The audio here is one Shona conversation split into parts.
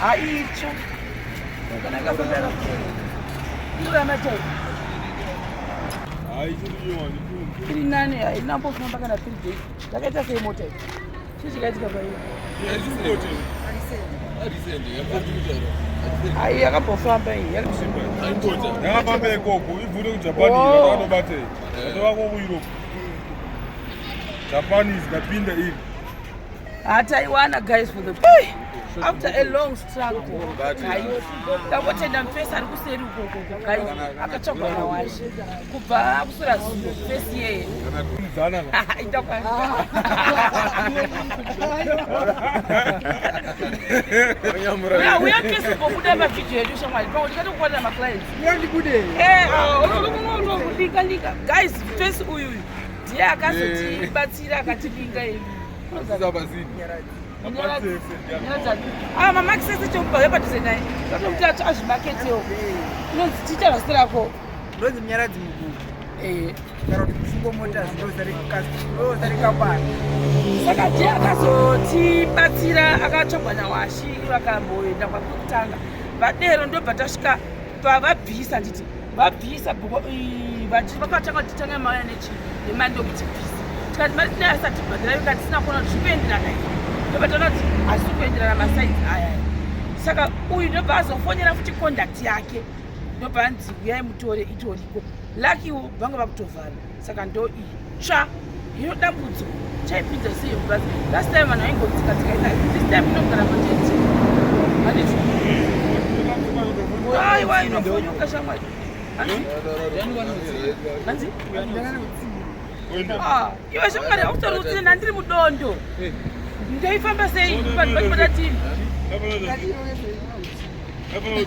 haitsva iri nani haina mbofamba kana three days zvakaita sei mota iyi chii chikaitika paiyo ayi yakambofamba iyakafamba ikoko ibvute kujapan anobatei atova ko kueurope japan is kapinda iri hataiwana guys for the hey! after a long struggle ndakotenda mfesi ari kuseri ukokoko guys akatsvagwa nawashe kubva akusura zuo fesi yeye uya kesi kokuda mavhidhio yedu shamwari pamwe ndikatokuwanira maclients eh, ah, guys fesi uyuyu ndiye akazotibatsira akativinga ii ah, mamakisese chokubva vepadhuze naye totokuti acho azvimaketewo inonzi tiita vasi rako ndonzi munyaradzi mukuru eh. kana kuti kufungo mota zvinosarikakwana saka je akazotibatsira akatsvagwa nawashi vakamboenda kwakutanga vadero ndobva tasvika pavabvisa nditi vabvisa bhuko vachiti vakatanga kutitanga mauya nechi nemando kuti bvisa tikati mari tinayo asati bhadhara ika tisina kuona kuti zvikuenderana i ndobataona kuti hazisi kuenderana masaidzi aya saka uyu ndobva azofonera futi conduct yake ndobva anzi uyai mutore itoriko lakiwo vanga vakutovhara saka ndo itsva hino dambudzo chaipinza sei plus last time vanhu vaingodzika dzika ita this time inogara matete handicho aiwa inofonyoka shamwari hanzi ah, iwe shamwari hautori utsini handiri mudondo eh. ndoifamba sei vanhu vacho vadatini Everybody.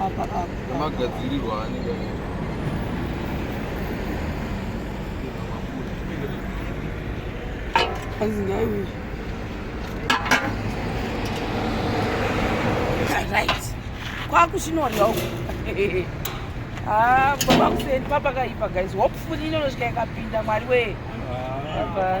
apa apa magadzirirwa anenge azingawi right kwakuchinorya uku ah, baba kuseni papakaipa guys hopefully inonosvika ikapinda mwari wee ah,